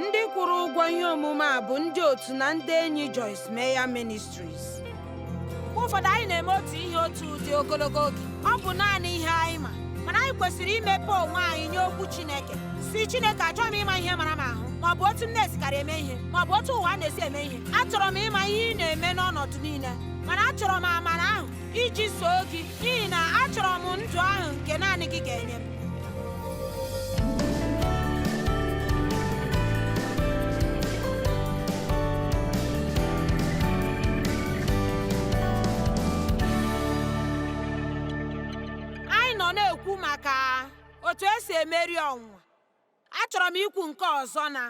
ndị kwụrụ ụgwọ ihe omume a bụ ndị otu na ndị enyi Joyce Meyer Ministries mgbe ụfọdụ anyị na-eme otu ihe otu ụdị ogologo oge ọ bụ naanị ihe anyị ma mana anyị kwesịrị imepe onwe anyị nye okwu Chineke sị Chineke achọghị m ịma ihe mara m ahụ ma ọ bụ otu m na-esikarị eme ihe ma ọ bụ otu ụwa na-esi eme ihe achọrọ m ịma ihe ị na-eme n'ọnọdụ niile mana achọrọ m amara ahụ iji soo gị n'ihi na achọrọ m ndụ ahụ nke naanị gị ga-enye m anyị nọ na-ekwu maka otu esi emeri ọnwụnwa achọrọ m ikwu nke ọzọ na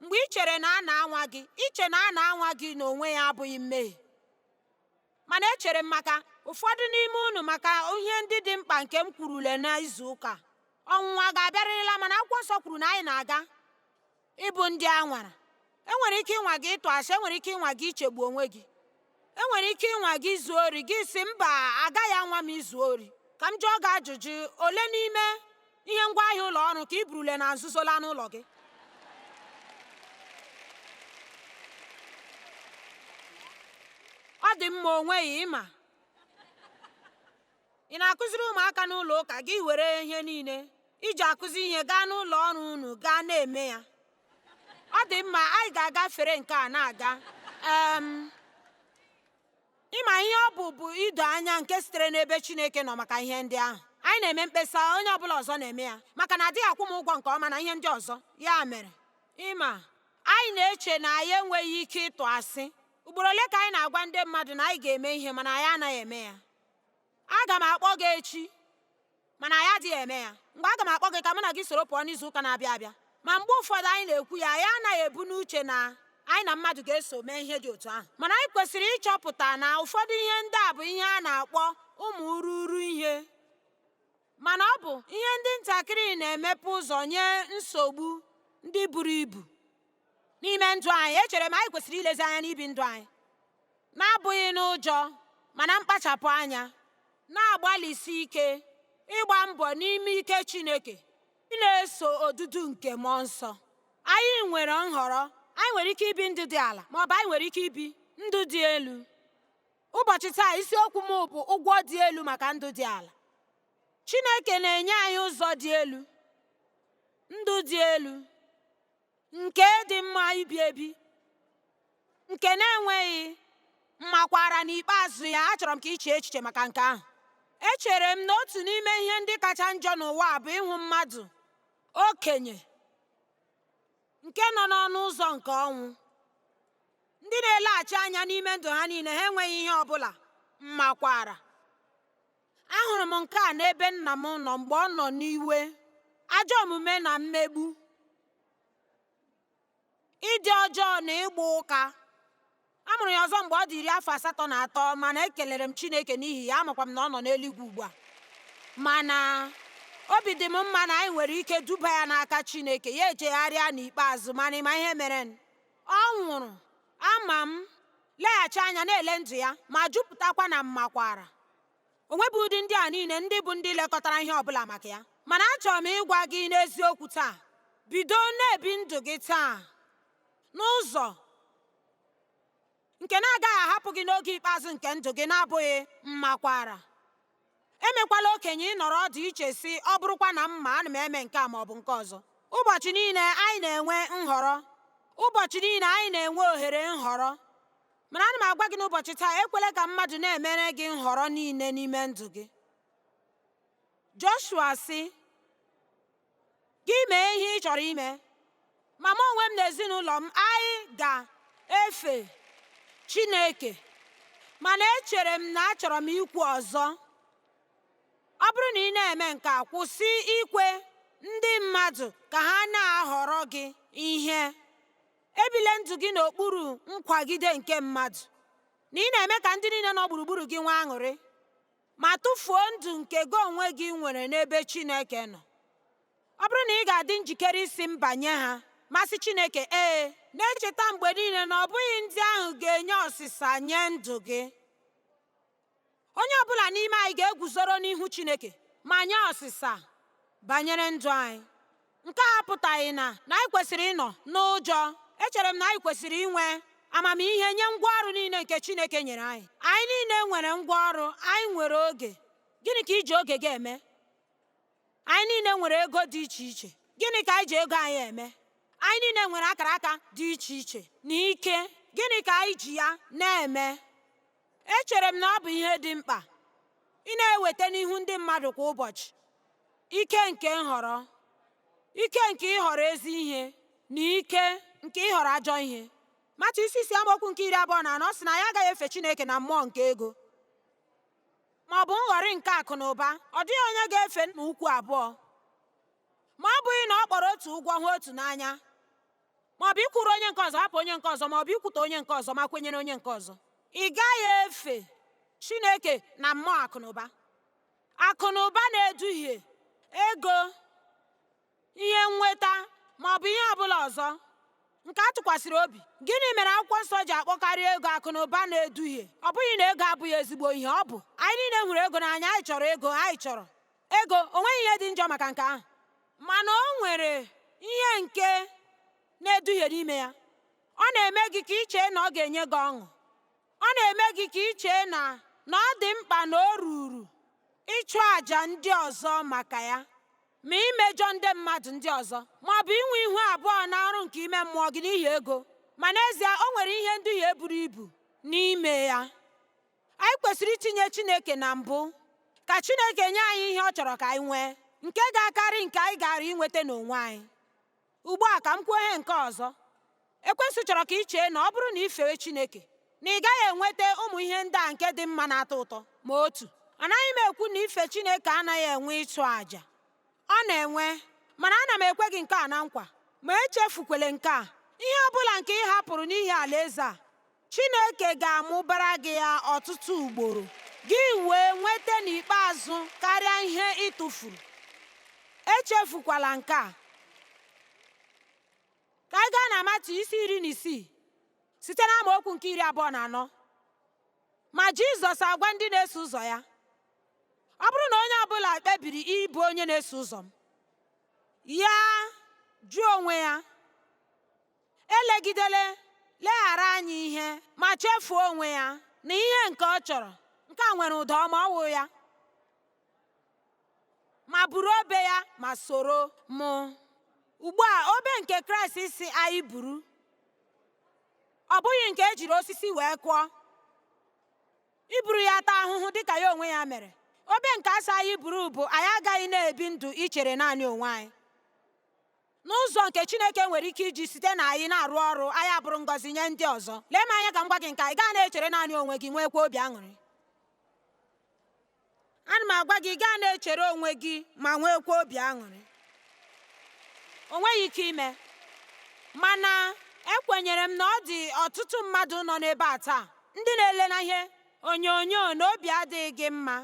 mgbe ị chere na a na-anwa gị iche na a na-anwa gị n'onwe ya abụghị mmehie Mana echere m maka ụfọdụ n'ime unu maka ihe ndị dị mkpa nke m kwurule n'izu ụka. Ọnwụnwa ga-abịarịrịla mana akwụkwọ nsọ kwuru na anyị na-aga ịbụ ndị a nwara. E nwere ike ịnwa gị ịtụ asị, e nwere ike ịnwa gị ichegbu onwe gị. E nwere ike ịnwa gị izu ori, gị sị mba agaghị anwa m izu ori. Ka m jụọ gị ajụjụ, ole n'ime ihe ngwa ahịa ụlọ ọrụ ka i burule na nzuzo laa n'ụlọ gị ọ dị mma o nweghị ị ma ị na-akụziri ụmụaka n'ụlọ ụka gị were ihe niile i ji akụzi ihe gaa n'ụlọ ọrụ unu gaa na-eme ya ọ dị mma anyị ga-agafere nke a na-aga Ị ma ihe ọ bụ bụ ido anya nke sitere n'ebe Chineke nọ maka ihe ndị ahụ. Anyị na-eme mkpesa, onye ọbụla ọzọ na-eme ya, maka na adịghị akwụ m ụgwọ nke ọma na ihe ndị ọzọ. Ya mere, ị ma, anyị na-eche na anyị enweghị ike ịtụ asị. Ugboro ole ka anyị na-agwa ndị mmadụ na anyị ga-eme ihe mana anyị anaghị eme ya? Aga m akpọ gị echi mana anyị adịghị eme ya mgbe aga m akpọ gị ka mụ na gị soro pụọ n'izu ụka na-abịa abịa ma mgbe ụfọdụ anyị na-ekwu ya anyị anaghị ebu n'uche na anyị na mmadụ ga-eso mee ihe dị otu ahụ mana anyị kwesịrị ịchọpụta na ụfọdụ ihe ndị a bụ ihe a na-akpọ ụmụ urughuru ihe Mana ọ bụ ihe ndị ntakịrị na-emepe ụzọ nye nsogbu ndị buru ibu n'ime ndụ anyị. Echere m anyị kwesịrị ilezi anya n'ibi ndụ anyị na-abụghị n'ụjọ mana mkpachapụ anya, na-agbalịsi ike ịgba mbọ n'ime ike Chineke, ị na-eso odudu nke mmụọ nsọ. Anyị nwere nhọrọ, anyị nwere ike ibi ndụ dị ala maọbụ anyị nwere ike ibi ndụ dị elu. Ụbọchị taa isiokwu m bụ ụgwọ dị elu maka ndụ dị ala. Chineke na-enye anyị ụzọ dị elu, ndụ dị elu, nke dị mma ibi ebi, nke na-enweghị mmakwara n'ikpeazụ ya achọrọ m ka i chee echiche maka nke ahụ. Echere m na otu n'ime ihe ndị kacha njọ n'ụwa bụ ịhụ mmadụ okenye nke nọ n'ọnụ ụzọ nke ọnwụ ndị na-eleghachi anya n'ime ndụ ha niile ha enweghị ihe ọ bụla mmakwaara ahụrụ m nke a n'ebe nna m nọ mgbe ọ nọ n'iwe ajọ omume na mmegbu ịdị ọjọọ na ịgba ụka A mụrụ ya ọzọ mgbe ọ dị iri afọ asatọ na atọ mana ekelere m Chineke n'ihi ya amakwa m na ọ nọ n'eluigwe ugbu a mana obi dị m mma na anyị nwere ike duba ya n'aka Chineke ya echegharịa n'ikpeazụ mana ị ma ihe mere ọ nwụrụ ama m leghachi anya na-ele ndụ ya ma jupụtakwa na mmakwara o nweghị ụdị ndị a niile ndị bụ ndị lekọtara ihe ọ bụla maka ya mana achọrọ m ịgwa gị n'eziokwu taa bido na-ebi ndụ gị taa n'ụzọ nke na-agaghị ahapụ gị n'oge ikpeazụ nke ndụ gị na-abụghị mmakwara emekwala okenye ị nọrọ ọdụ i chee sị ọ bụrụkwa na m ma ana m eme nke a ma ọ bụ nke ọzọ ụbọchị niile anyị na-enwe nhọrọ ụbọchị niile anyị na-enwe ohere nhọrọ mana ana m agwa gị n'ụbọchị taa ekwela ka mmadụ na-emere gị nhọrọ niile n'ime ndụ gị Joshua sị Gị mee ihe ị chọrọ ime, ma mụ onwe m na ezinụlọ m, anyị ga-efe Chineke. Mana echere m na achọrọ m ikwu ọzọ. Ọ bụrụ na ị na-eme nke a, kwụsị ikwe ndị mmadụ ka ha na-ahọrọ gị ihe. Ebile ndụ gị n'okpuru nkwagide nke mmadụ, na ị na-eme ka ndị niile nọ gburugburu gị nwee aṅụrị. ma tụfuo ndụ nke gị onwe gị nwere n'ebe Chineke nọ. Ọ bụrụ na ị ga-adị njikere ịsị mba nye ha, ma sị Chineke ee, na-echeta mgbe niile na ọ bụghị ndị ahụ ga-enye ọsịsa nye ndụ gị. Onye ọ bụla n'ime anyị ga-eguzoro n'ihu Chineke ma nye ọsịsa banyere ndụ anyị. Nke a apụtaghị na na anyị kwesịrị ịnọ n'ụjọ. Echere m na anyị kwesịrị inwe amamihe nye ngwa ọrụ niile nke Chineke nyere anyị. Anyị niile nwere ngwa ọrụ, anyị nwere oge. Gịnị ka i ji oge gị eme? Anyị niile nwere ego dị iche iche. Gịnị ka anyị ji ego anyị eme? Anyị niile nwere akara aka dị iche iche na ike. Gịnị ka anyị ji ya na-eme? Echere m na ọ bụ ihe dị mkpa ị na-eweta n'ihu ndị mmadụ kwa ụbọchị ike nke nhọrọ, ike nke ịhọrọ ezi ihe na ike nke ịhọrọ ajọ ihe. Matiu isi isii amaokwu nke iri abụọ na anọ sị na anyị agaghị efe Chineke na mmụọ nke ego ma ọ bụ nghọrị nke akụ na ụba. Ọ dịghị onye ga-efe nna ukwu abụọ ma ọ bụghị na ọ kpọrọ otu ụgwọ hụ otu n'anya. ma ọ bụ ịkwụrụ onye nke ọzọ hapụ onye nke ọzọ ma ọ bụ ikwutọ onye nke ọzọ ma kwenyere onye nke ọzọ ị gaghị efe Chineke na mmụọ akụnụba akụnụba na-eduhie ego ihe nnweta ma ọ bụ ihe ọ bụla ọzọ nke a tụkwasịrị obi gịnị mere akwụkwọ nsọ ji akpọkarị ego akụ na ụba na-eduhie ọ bụghị na ego abụghị ezigbo ihe ọ bụ anyị niile hụrụ ego n'anya anyị chọrọ ego anyị chọrọ Ego, o nweghị ihe dị njọ maka nke ahụ, mana o nwere ihe nke na-eduhie n'ime ya. Ọ na-eme gị ka i chee na ọ ga-enye gị ọṅụ. Ọ na-eme gị ka i chee na na ọ dị mkpa na o ruru ịchụ àjà ndị ọzọ maka ya, ma imejọ ndị mmadụ ndị ọzọ, ma ọ bụ inwe ihu abụọ na ọrụ nke ime mmụọ gị n'ihi ego. Ma n'ezie, o nwere ihe nduhie buru ibu n'ime ya. anyị kwesịrị itinye Chineke na mbụ ka Chineke nye anyị ihe ọ chọrọ ka anyị nwee nke ga-akarị nke anyị gaara inweta n'onwe anyị ugbu a ka m kwuo ihe nke ọzọ ekwensu chọrọ ka ị chee na ọ bụrụ na ị fee Chineke na ị gaghị enweta ụmụ ihe ndị a nke dị mma na-atọ ụtọ ma otu anaghị m ekwu na ife Chineke anaghị enwe ịchụ àjà ọ na-enwe mana ana m ekwe gị nke a na nkwa ma echefukwele nke a ihe ọ bụla nke ị hapụrụ n'ihi alaeze a Chineke ga-amụbara gị ya ọtụtụ ugboro, gị wee nweta n'ikpeazụ karịa ihe ị tụfuru. Echefukwala nke a. Ka anyị gaa na Matiu isi iri na isii site na amaokwu nke iri abụọ na anọ. Ma Jizọs agwa ndị na-eso ụzọ ya, ọ bụrụ na onye ọbụla kpebiri ịbụ onye na-eso ụzọ m, ya jụọ onwe ya elegidele leghara anya ihe ma chefuo onwe ya na ihe nke ọ chọrọ nke a nwere ụda ọma ọ wụ ya ma buru obe ya ma soro mụ ugbu a obe nke kraịst sị anyị buru ọ bụghị nke ejiri osisi wee kụọ iburu ya taa ahụhụ dịka ya onwe ya mere obe nke a sị anyị buru bụ anyị agaghị na-ebi ndụ ichere naanị onwe anyị N'ụzọ nke Chineke nwere ike iji site na anyị na-arụ ọrụ, anyị abụrụ ngọzi nye ndị ọzọ. Lee m anya ka m gwa gị nke a, ị gaghị na-echere naanị onwe gị, nweekwa obi aṅụrị. Ana m agwa gị, ị gaghị na-echere onwe gị ma nweekwa obi aṅụrị. O nweghị ike ime. Mana ekwenyere m na ọ dị ọtụtụ mmadụ nọ n'ebe a taa, ndị na-ele na ihe onyonyo na obi adịghị gị mma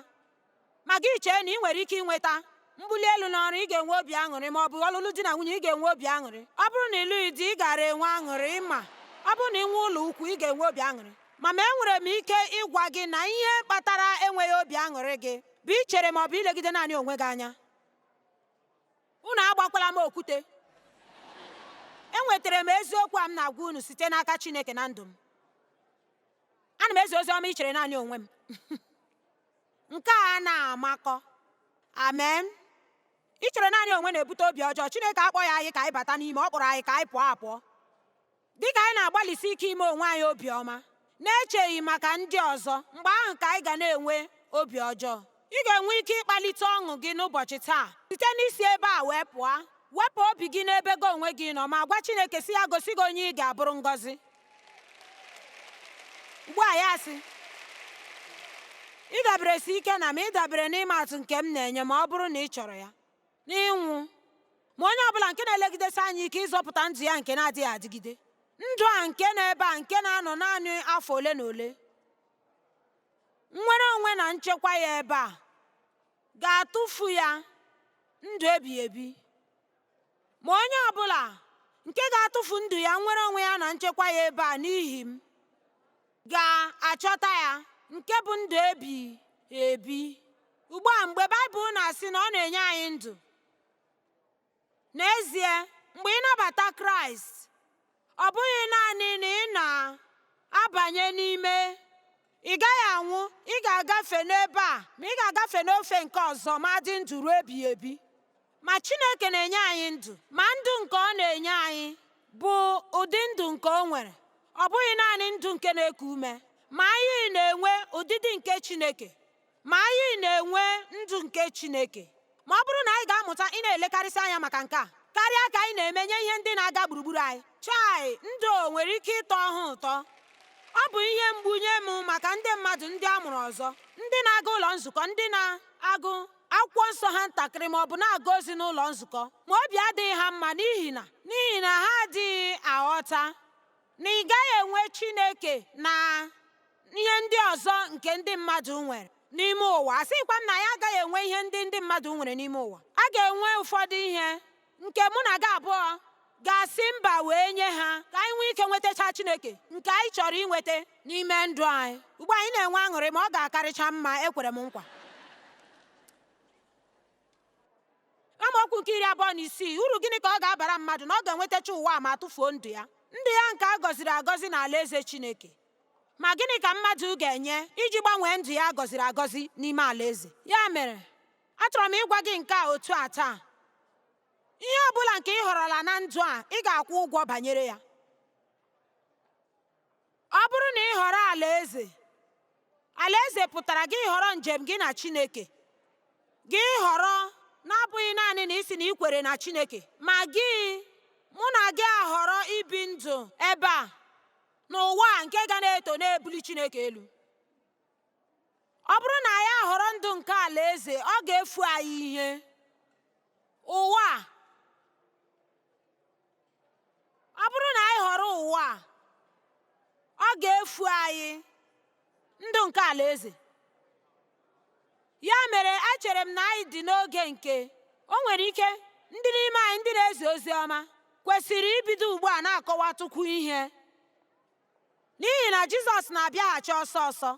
Ma gị chee na ị nwere ike inweta mbuli elu n'ọrụ, ị ga-enwe obi aṅụrị, ma ọ bụ ọlụlụ di na nwunye, ị ga-enwe obi aṅụrị. Ọ bụrụ na ị lụghị di, ị gaara enwe aṅụrị. Ma, ọ bụrụ na i nwee ụlọ ukwu, ị ga-enwe obi aṅụrị. Ma, ma enwere m ike ịgwa gị na ihe kpatara enweghị obi aṅụrị gị bụ ichere ma ọ bụ ilegide naanị onwe gị anya. Unu agbakwala m okwute. Enwetara m eziokwu a m na-agwa unu site n'aka Chineke na ndụ m. Ana m ezi ozi ọma ichere naanị onwe m. nke a na-amakọ amen ichere naanị onwe na-ebute obi ọjọọ Chineke akpọghị anyị ka anyị bata n'ime ọ kpọrọ anyị ka anyị pụọ apụọ dị ka anyị na-agbalịsi ike ime onwe anyị obiọma na-echeghị maka ndị ọzọ mgbe ahụ ka anyị ga na-enwe obi ọjọọ ị ga-enwe ike ịkpalite ọṅụ gị n'ụbọchị taa site n'isi ebe a wee pụọ wepụ obi gị n'ebe gị onwe gị nọ ma gwa Chineke sị ya gosi gị onye ị ga-abụrụ ngọzi ugbu a ya sị ịdaberesi ike na m ịdabere n'ịma atụ nke m na-enye ma ọ bụrụ na ị chọrọ ya n'ịnwụ ma onye ọbụla nke na-elegidesi anya ike ịzọpụta ndụ ya nke na-adịghị adịgide ndụ a nke nọ ebe a nke na-anọ naanị afọ ole na ole nnwere onwe na nchekwa ya ebe a ga-atụfu ya ndụ ebighị ebi Ma onye ọ bụla nke ga-atụfu ndụ ya nnwere onwe ya na nchekwa ya ebe a n'ihi m ga-achọta ya nke bụ ndụ ebi ebi ugbu a mgbe Baịbụl na-asị na ọ na-enye anyị ndụ n'ezie mgbe ị nabata Kraịst ọ bụghị naanị na ị na-abanye n'ime ị gaghị anwụ ị ga-agafe n'ebe a ma ị ga-agafe n'ofe nke ọzọ ma dị ndụ ruo ebighị ebi ma Chineke na-enye anyị ndụ ma ndụ nke ọ na-enye anyị bụ ụdị ndụ nke o nwere ọ bụghị naanị ndụ nke na-eku ume ma anyị na-enwe ụdịdị nke Chineke Ma anyị na-enwe ndụ nke Chineke ma ọ bụrụ na anyị ga-amụta ịna-elekarịsị anya maka nke a karịa ka anyị na-eme nye ihe ndị na-aga gburugburu anyị. Chai, ndụ nwere ike ịtọ ha ụtọ. Ọ bụ ihe mgbu nye m maka ndị mmadụ ndị a mụrụ ọzọ, ndị na-aga ụlọ nzukọ, ndị na-agụ akwụkwọ nsọ ha ntakịrị ma ọ bụ na-aga ozi n'ụlọ nzukọ, ma obi adịghị ha mma n'ihi na n'ihi na ha adịghị aghọta na ị gaghị enwe Chineke na ihe ndị ọzọ nke ndị mmadụ nwere n'ime ụwa asịkwa m na anyị agaghị enwe ihe ndị ndị mmadụ nwere n'ime ụwa a ga-enwe ụfọdụ ihe nke mụ na gị abụọ ga-asị mba wee nye ha ka anyị nwee ike nwetacha Chineke nke anyị chọrọ inweta n'ime ndụ anyị ugbu a anyị na-enwe aṅụrị ma ọ ga-akarịcha mma ekwere m nkwa amaokwu nke iri abụọ na isii uru gịnị ka ọ ga-abara mmadụ na ọ ga-enwetacha ụwa ma tụfuo ndụ ya ndụ ya nke a gọziri agọzi na alaeze Chineke ma gịnị ka mmadụ ga-enye iji gbanwee ndụ ya a gọziri agọzi n'ime alaeze ya mere achọrọ m ịgwa gị nke a otu a taa ihe ọ bụla nke ị họrọla na ndụ a ị ga-akwụ ụgwọ banyere ya Ọ bụrụ na ị họrọ Alaeze, Alaeze pụtara gị ịhọrọ njem gị na Chineke. Gị ịhọrọ na-abụghị naanị na ị sị na i kwere na Chineke, ma gị mụ na gị ahọrọ ibi ndụ ebe a n'ụwa nke ga na-eto na-ebuli Chineke elu. Ọ bụrụ na anyị ahọrọ ndụ nke Alaeze, ọ ga-efu anyị ihe. Ụwa ọ bụrụ na anyị họrọ ụwa a ọ ga-efu anyị ndụ nke alaeze ya mere echere m na anyị dị n'oge nke o nwere ike ndị n'ime anyị ndị na-ezi ozi ọma kwesịrị ibido ugbu a na-akọwatụkwu ihe N'ihi na Jizọs na-abịaghachi ọsọ ọsọ,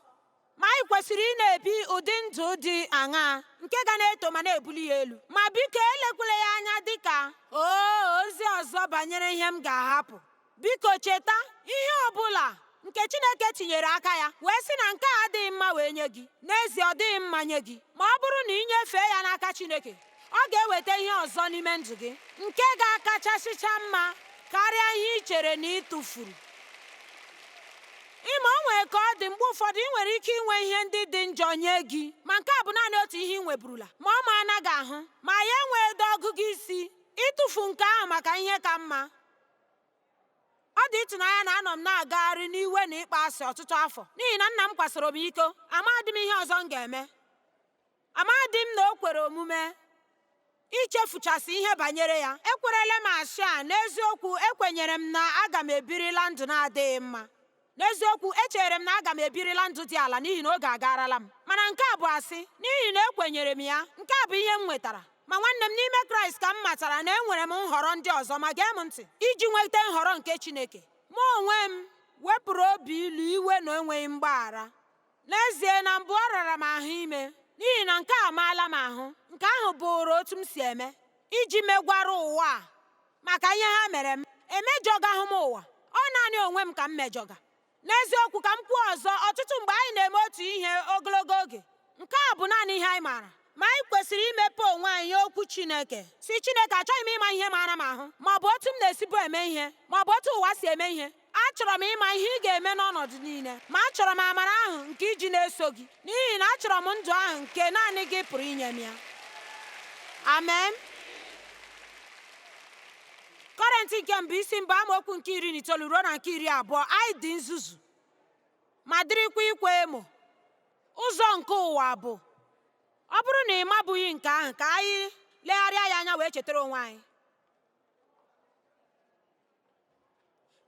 ma anyị kwesịrị ị na-ebi ụdị ndụ dị aṅaa nke ga na-eto ma na-ebuli ya elu? Ma biko elekwala ya anya dị ka oo ozi ọzọ banyere ihe m ga-ahapụ. Biko cheta ihe ọ bụla nke Chineke tinyere aka ya wee sị na nke a adịghị mma wee nye gị, n'ezie ọ dịghị mma nye gị ma ọ bụrụ na ị nyefee ya n'aka Chineke. ọ ga-eweta ihe ọzọ n'ime ndụ gị nke ga-akachasịcha mma karịa ihe ị chere na ị tụfuru ịma o nwere ka ọ dị mgbe ụfọdụ ị nwere ike inwe ihe ndị dị njọ nye gị ma nke a bụ naanị otu ihe ị nweburula ma ọ maala gị ahụ ma ya enwedị ọgụgụ isi ịtụfu nke ahụ maka ihe ka mma ọ dị ịtụnanya na anọ m na-agagharị n'iwe na ịkpa asị ọtụtụ afọ n'ihi na nna m kwasoro m iko amadị m ihe ọzọ m ga-eme Amadị m na o kwere omume ichefuchasị ihe banyere ya. Ekwerela m asị a, n'eziokwu, ekwenyere m na aga m ebirila ndụ na-adịghị mma. N'eziokwu, echere m na aga m ebirila ndụ dị ala n'ihi na oge agaarala m. Mana nke a bụ asị, n'ihi na ekwenyere m ya, nke a bụ ihe m nwetara. Ma nwanne m n'ime Kraịst ka m matara na enwere m nhọrọ ndị ọzọ, ma gee m ntị, iji nweta nhọrọ nke Chineke. Mụ onwe m wepụrụ obi ilu, iwe, na enweghị mgbaghara. N'ezie, na mbụ ọ rara m ahụ ime, n'ihi na nke a amaala m ahụ, nke ahụ bụụrụ otu m si eme, iji megwara ụwa a maka ihe ha mere m. Emejọgahụ m ụwa, ọ naanị onwe m ka m mejọga. N'eziokwu, ka m kwuo ọzọ, ọtụtụ mgbe anyị na-eme otu ihe ogologo oge. Nke a bụ naanị ihe anyị maara. Ma anyị kwesịrị imepe onwe anyị nye Okwu Chineke, sị Chineke, achọghị m ịma ihe mara m ahụ, ma ọ bụ otu m na-esibu eme ihe, ma ọ bụ otu ụwa si eme ihe. Achọrọ m ịma ihe ị ga-eme n'ọnọdụ niile, ma achọrọ m amara ahụ nke iji na-eso gị, n'ihi na achọrọ m ndụ ahụ nke naanị gị pụrụ inye m ya. Amen. Kọrentị nke mbụ isi mbụ amaokwu nke iri na itoolu ruo na nke iri abụọ anyị dị nzuzu ma dịrịkwa ikwa emo ụzọ nke ụwa bụ ọ bụrụ na ị mabughị nke ahụ ka anyị legharịa ya anya wee chetara onwe anyị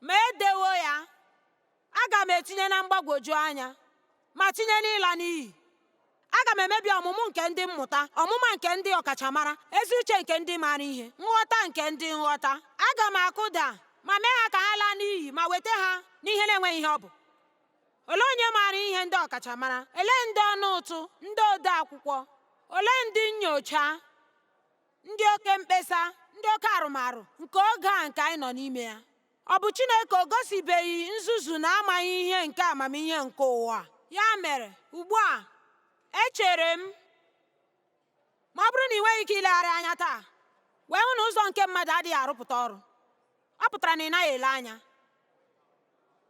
ma edewo ya aga m etinye na mgbagwoju anya ma tinye n'ịla n'iyi aga m emebi ọmụmụ nke ndị mmụta ọmụma nke ndị ọkachamara ezi uche nke ndị maara ihe nghọta nke ndị nghọta aga m akụda ma mee ha ka ha laa n'iyi ma weta ha n'ihe na-enweghị ihe ọ bụ olee onye maara ihe ndị ọkachamara olee ndị ọnụ ụtụ ndị ode akwụkwọ olee ndị nnyocha ndị oke mkpesa ndị oke arụmarụ nke oge a nke anyị nọ n'ime ya ọ bụ Chineke o gosibeghị nzuzu na amaghị ihe nke amamihe nke ụwa ya mere ugbu a echere m ma ọ bụrụ na ị nweghị ike ilegharị anya taa wee hụ na ụzọ nke mmadụ adịghị arụpụta ọrụ ọ pụtara na ị naghị ele anya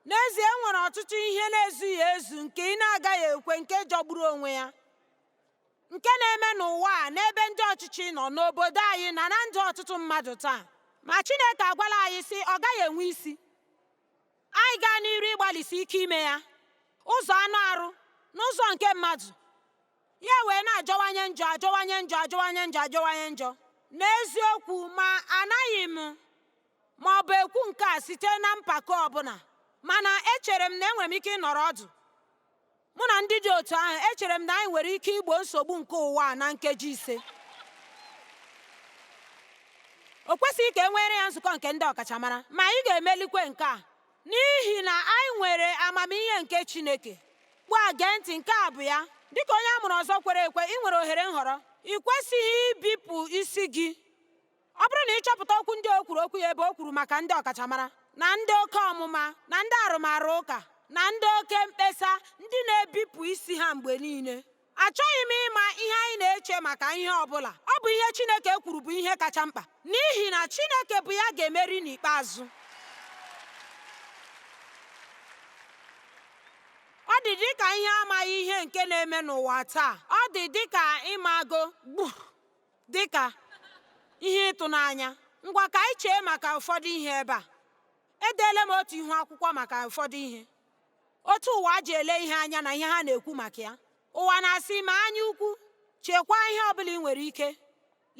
n'ezie e nwere ọtụtụ ihe na-ezughị ezu nke ị na-agaghị ekwe nke jọgburu onwe ya nke na-eme n'ụwa a n'ebe ndị ọchịchị nọ n'obodo anyị na na ndụ ọtụtụ mmadụ taa ma Chineke agwala anyị sị ọ gaghị enwe isi anyị gaa n'iru ịgbalịsi ike ime ya ụzọ anụ arụ n'ụzọ nke mmadụ ya wee na-ajọwanye njọ ajọwanye njọ ajọwanye njọ ajọwanye njọ n'eziokwu ma anaghị m ma ọ bụ ekwu nke a site na mpako ọbụla mana echere m na enwere m ike ịnọrọ ọdụ Mụ na ndị dị otu ahụ echere m na anyị nwere ike igbo nsogbu nke ụwa a na nkeji ise. O kwesịghị ka e nwere ya nzukọ nke ndị ọkachamara, ma anyị ga-emelikwe nke a n'ihi na anyị nwere amamihe nke Chineke. Ugbu a gee ntị, nke a bụ ya. Dị ka onye a mụrụ ọzọ kwere ekwe, ị nwere ohere nhọrọ. Ị kwesịghị ibipụ isi gị. ọ bụrụ na ị chọpụta okwu ndị o kwuru okwu ya ebe o kwuru maka ndị ọkachamara na ndị oke ọmụma na ndị arụmarụ ụka na ndị oke mkpesa ndị na-ebipụ isi ha mgbe niile achọghị m ịma ihe anyị na-eche maka ihe ọ bụla ọ bụ ihe Chineke kwuru bụ ihe kacha mkpa n'ihi na Chineke bụ ya ga-emeri n'ikpeazụ ọ dị dịka ihe amaghị ihe nke na-eme n'ụwa taa ọ dị dịka ịmago gbu Dị ka ihe ịtụnanya, ngwa ka anyị chee maka ụfọdụ ihe ebe a. Edeela m otu ihu akwụkwọ maka ụfọdụ ihe, otu ụwa ji ele ihe anya na ihe ha na-ekwu maka ya. Ụwa na-asị ma anya ukwu, chekwaa ihe ọ bụla ị nwere ike,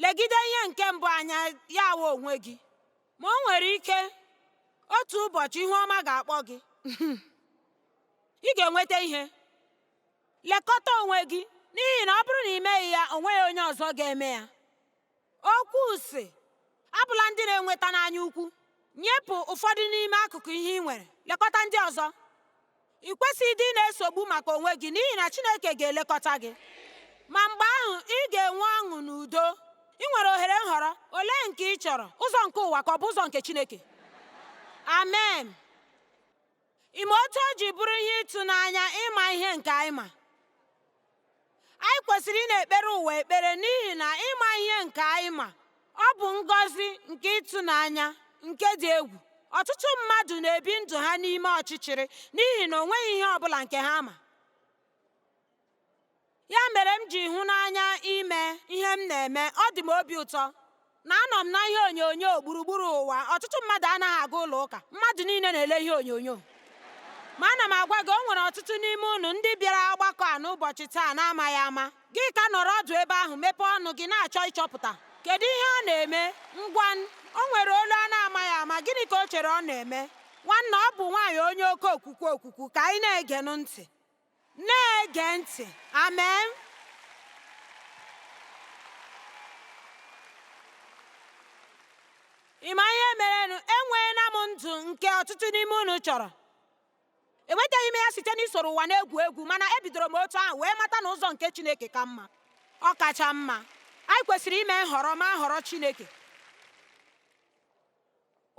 legide ihe nke mbụ anya ya wụ onwe gị. Ma o nwere ike otu ụbọchị ihu ọma ga-akpọ gị, ị ga-enweta ihe. lekọta onwe gị n'ihi na ọ bụrụ na ị meghị ya o nweghị onye ọzọ ga-eme ya okwu sị abụla ndị na-enweta n'anya ukwu nyepụ ụfọdụ n'ime akụkụ ihe ị nwere lekọta ndị ọzọ ị kwesịghị ịdị na-esogbu maka onwe gị n'ihi na Chineke ga-elekọta gị ma mgbe ahụ ị ga-enwe ọṅụ na udo ị nwere ohere nhọrọ olee nke ị chọrọ ụzọ nke ụwa ka ọ bụ ụzọ nke Chineke amen Ị ma otu o ji bụrụ ihe ịtụnanya ịma ihe nke anyị ma anyị kwesịrị ịna-ekpere ụwa ekpere n'ihi na ịma ihe nke anyị ma ọ bụ ngọzi nke ịtụnanya nke dị egwu ọtụtụ mmadụ na-ebi ndụ ha n'ime ọchịchịrị n'ihi na o nweghị ihe ọ bụla nke ha ma ya mere m ji hụ n'anya ime ihe m na-eme ọ dị m obi ụtọ na anọ m na ihe onyonyo gburugburu ụwa ọtụtụ mmadụ anaghị aga ụlọ ụka mmadụ niile na-ele ihe onyonyo ma ana m agwa gị o nwere ọtụtụ n'ime unu ndị bịara ọgbakọ a n'ụbọchị taa na-amaghị ama gị ka nọrọ ọdụ ebe ahụ mepee ọnụ gị na-achọ ịchọpụta kedu ihe ọ na-eme ngwa o nwere olu a na-amaghị ama gịnị ka o chere ọ na-eme nwanna ọ bụ nwaanyị onye oke okwukwu okwukwu ka anyị na-egenụ ntị na-ege ntị amen ị ma ihe merenụ enweela m ndụ nke ọtụtụ n'ime unu chọrọ enwetaghị m ya site n'isoro ụwa na-egwu egwu mana ebidoro m otu ahụ wee mata na ụzọ nke chineke ka mma ọ kacha mma anyị kwesịrị ime nhọrọ ma họrọ chineke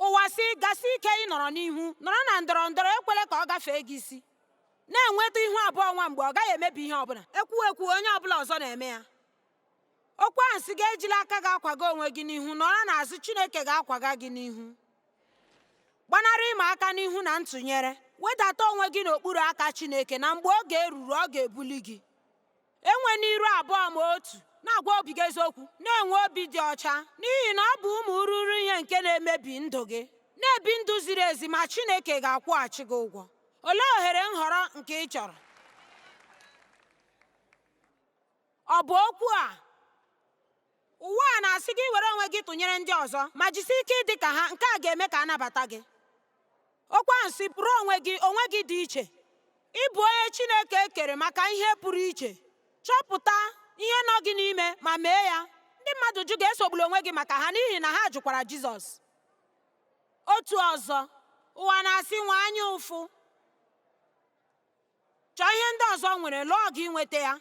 ụwa sị gasi ike ịnọrọ n'ihu nọrọ na ndọrọ ndọrọ ekwele ka ọ gafee gị isi na-enweta ihu abụọ nwa mgbe ọ gaghị emebi ihe ọbụla ekwu ekwu onye ọbụla ọzọ na-eme ya okwu ahụ sị gị ejila aka gị akwaga onwe gị n'ihu nọrọ n'azụ chineke ga-akwaga gị n'ihu gbanarị ịma aka n'ihu na ntụnyere wedata onwe gị n'okpuru aka chineke na mgbe oge eruru ọ ga-ebuli gị enwena iru abụọ ma otu na-agwa obi gị eziokwu na-enwe obi dị ọcha n'ihi na ọ bụ ụmụ ururu ihe nke na-emebi ndụ gị na-ebi ndụ ziri ezi ma Chineke ga-akwụghachi gị ụgwọ olee ohere nhọrọ nke ị chọrọ ọ bụ okwu a Ụwa a na-asị gị were onwe gị tụnyere ndị ọzọ ma jisi ike ịdị ka ha nke a ga-eme ka a nabata gị. Okwu ahụ sị bụrụ onwe gị onwe gị dị iche. Ị bụ onye Chineke kere maka ihe pụrụ iche. Chọpụta ihe nọ gị n'ime ma mee ya. Ndị mmadụ jụ gị esogbula onwe gị maka ha n'ihi na ha jụkwara Jizọs. Otu ọzọ, ụwa na-asị nwee anya ụfụ. Chọọ ihe ndị ọzọ nwere, lụọ ọgụ inweta ya.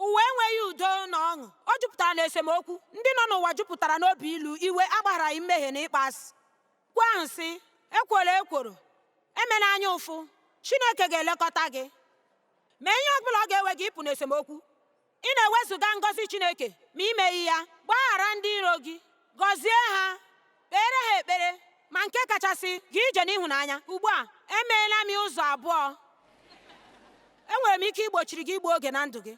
Ụwa enweghị udo na ọṅụ. O jupụtara na esemokwu. Ndị nọ n'ụwa jupụtara n'obi ilu, iwe, agbagharaghị mmehie na ịkpọasị. Okwu ahụ sị, ekwola ekworo, emela anya ụfụ, Chineke ga-elekọta gị. Mee ihe ọ bụla ọ ga-ewe gị ịpụ n'esemokwu. Ị na-ewezụga ngọzi Chineke ma i meghị ya, gbaghara ndị iro gị, gọzie ha kpere ha ekpere ma nke kachasị gaa ije n'ịhụnanya ugbu a emeela m ụzọ abụọ enwere m ike igbochiri gị igbu oge na ndụ gị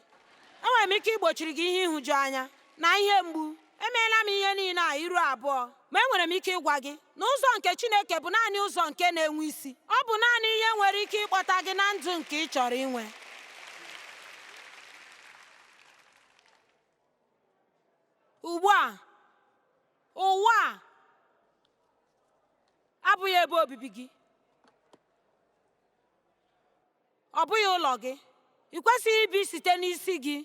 enwere m ike igbochiri gị ihe ịhụju anya na ihe mgbu emeela m ihe niile a iru abụọ ma enwere m ike ịgwa gị na ụzọ nke Chineke bụ naanị ụzọ nke na-enwe isi ọ bụ naanị ihe nwere ike ịkpọta gị na ndụ nke ị chọrọ inwe ugbu a ụwa a abụghị ebe obibi gị ọ bụghị ụlọ gị ị kwesịghị ibi site n'isi gị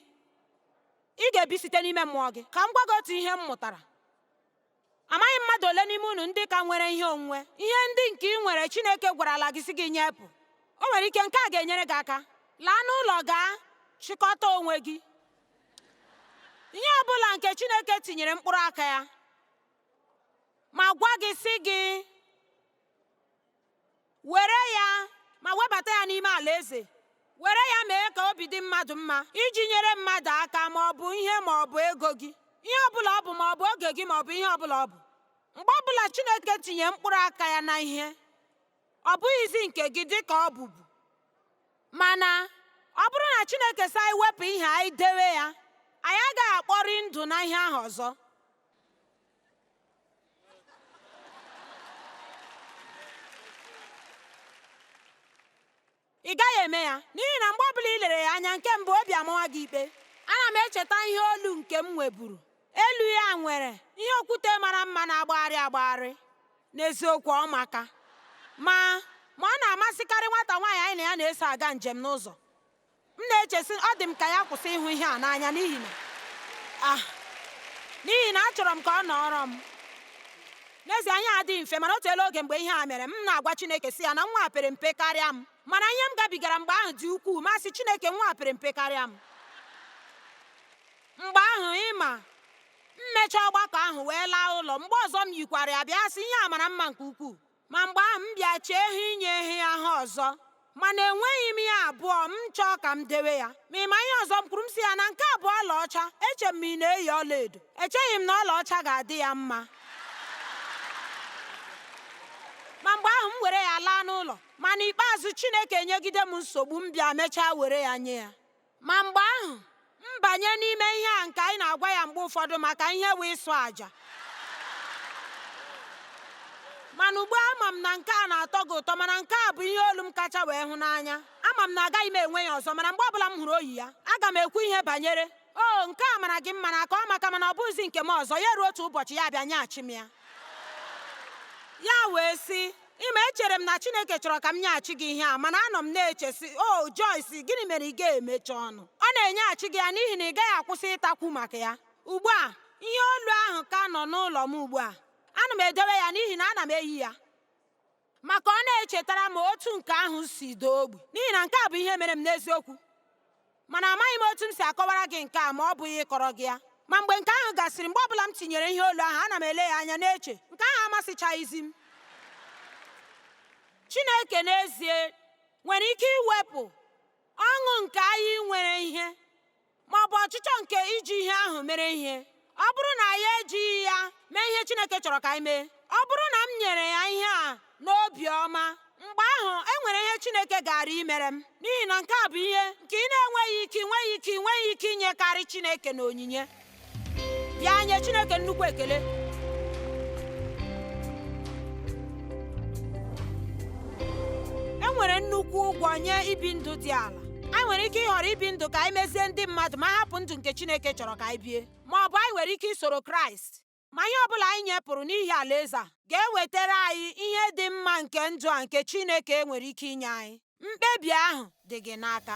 ị ga-ebi site n'ime mmụọ gị ka m gwa gị otu ihe m mụtara Amaghị m mmadụ ole n'ime unu ndị ka nwere ihe onwunwe, ihe ndị nke ị nwere Chineke gwarala gị sị gị nyepụ. O nwere ike nke a ga-enyere gị aka. Laa n'ụlọ gaa chịkọta onwe gị. Ihe ọ bụla nke Chineke tinyere mkpụrụ aka ya ma gwa gị sị gị were ya ma webata ya n'ime alaeze were ya mee ka obi dị mmadụ mma iji nyere mmadụ aka ma ọ bụ ihe ma ọ bụ ego gị ihe ọ bụla ọ bụ ma ọ bụ oge gị ma ọ bụ ihe ọ bụla ọ bụ mgbe ọ bụla Chineke tinye mkpụrụ aka ya na ihe ọ bụghịzi nke gị dị ka ọ bụbu mana ọ bụrụ na Chineke sị anyị wepụ ihe anyị dewe ya anyị agaghị akpọri ndụ na ihe ahụ ọzọ ị gaghị eme ya n'ihi na mgbe ọbụla ị lere ya anya nke mbụ obi amawa gị ikpe ana m echeta ihe olu nke m nweburu elu ya nwere ihe okwute mara mma na-agbagharị agbagharị n'eziokwu ọ maka mma ma ọ na-amasịkarị nwata nwaanyị anyị na ya na-eso aga njem n'ụzọ m na-eche sị ọ dị m ka ya kwụsị ịhụ ihe a n'anya n'ihi na ah, n'ihi na achọrọ m ka ọ nọọrọ m n'ezie ihe adịghị mfe mana o teela oge mgbe ihe a mere m na-agwa Chineke sị ya na nwa pere mpe karịa m mana ihe m gabigara mgbe ahụ dị ukwuu m sị Chineke nwa pere mpe karịa m mgbe ahụ ị ma m mechaa ọgbakọ ahụ wee laa ụlọ mgbe ọzọ m yikwara ya bịa sị ihe a mara mma nke ukwuu ma mgbe ahụ m bịa chee eh inye ihe ahụ ọzọ mana enweghị m ya abụọ m chọọ ka m dewe ya ma ị ma ihe ọzọ m kwuru m sị ya na nke a bụ ọlaọcha eche m ma ị na-eyi ọlaedo echeghị m na ọlaọcha ga-adị ya mma ma mgbe ahụ m were ya laa n'ụlọ ma n'ikpeazụ Chineke enyegide m nsogbu m bịa mechaa were ya nye ya Ma mgbe ahụ, m banye n'ime ihe a nke anyị na-agwa ya mgbe ụfọdụ maka ihe wee ịchụ àjà. Mana ugbu a ama m na nke a na-atọ gị ụtọ mana nke a bụ ihe olu m kacha wee hụ n'anya. Ama m na agaghị m enwe ya ọzọ mana mgbe ọbụla m hụrụ o yi ya, aga m ekwu ihe banyere o oh, nke a mara gị mma n'aka ọ maka mana ọ bụghịzi nke m ọzọ ya ruo otu ụbọchị ya bịa nyeghachi m ya. Ya wee sị, Ị ma echere m na Chineke chọrọ ka m nyeghachi gị ihe a mana anọ m na-eche sị o oh, Joyce gịnị mere ị ga-emechi ọnụ ọ na-enyeghachi gị ya n'ihi na ị gaghị akwụsị ịtakwu maka ya ugbu a ihe olu ahụ ka nọ n'ụlọ m ugbu a ana m edowe ya n'ihi na ana m eyi ya maka ọ na-echetara m otu nke ahụ si doo ogbi n'ihi na nke a bụ ihe mere m n'eziokwu mana amaghị m otu m si akọwara gị nke a ma ọ bụghị ịkọrọ gị ya ma mgbe nke ahụ gasịrị mgbe ọbụla m tinyere ihe olu ahụ ana m ele ya anya na-eche nke ahụ amasịchaghịzi m Chineke n'ezie nwere ike iwepụ ọṅụ nke anyị nwere ihe ma ọ bụ ọchịchọ nke iji ihe ahụ mere ihe ọ bụrụ na anyị ejighị ya mee ihe Chineke chọrọ ka anyị mee ọ bụrụ na m nyere ya ihe a n'obi ọma mgbe ahụ e nwere ihe Chineke gaara imere m n'ihi na nke a bụ ihe nke ị na-enweghị ike nweghị ike nweghị ike inyekarị Chineke n'onyinye bịa nye Chineke nnukwu ekele e nwere nnukwu ụgwọ nye ibi ndụ dị ala anyị nwere ike ịhọrọ ibi ndụ ka anyị mezie ndị mmadụ ma hapụ ndụ nke Chineke chọrọ ka anyị bie ma ọ bụ anyị nwere ike isoro Kraịst ma ihe ọ bụla anyị nyepụrụ n'ihi alaeze a ga-ewetara anyị ihe dị mma nke ndụ a nke Chineke nwere ike inye anyị mkpebi ahụ dị gị n'aka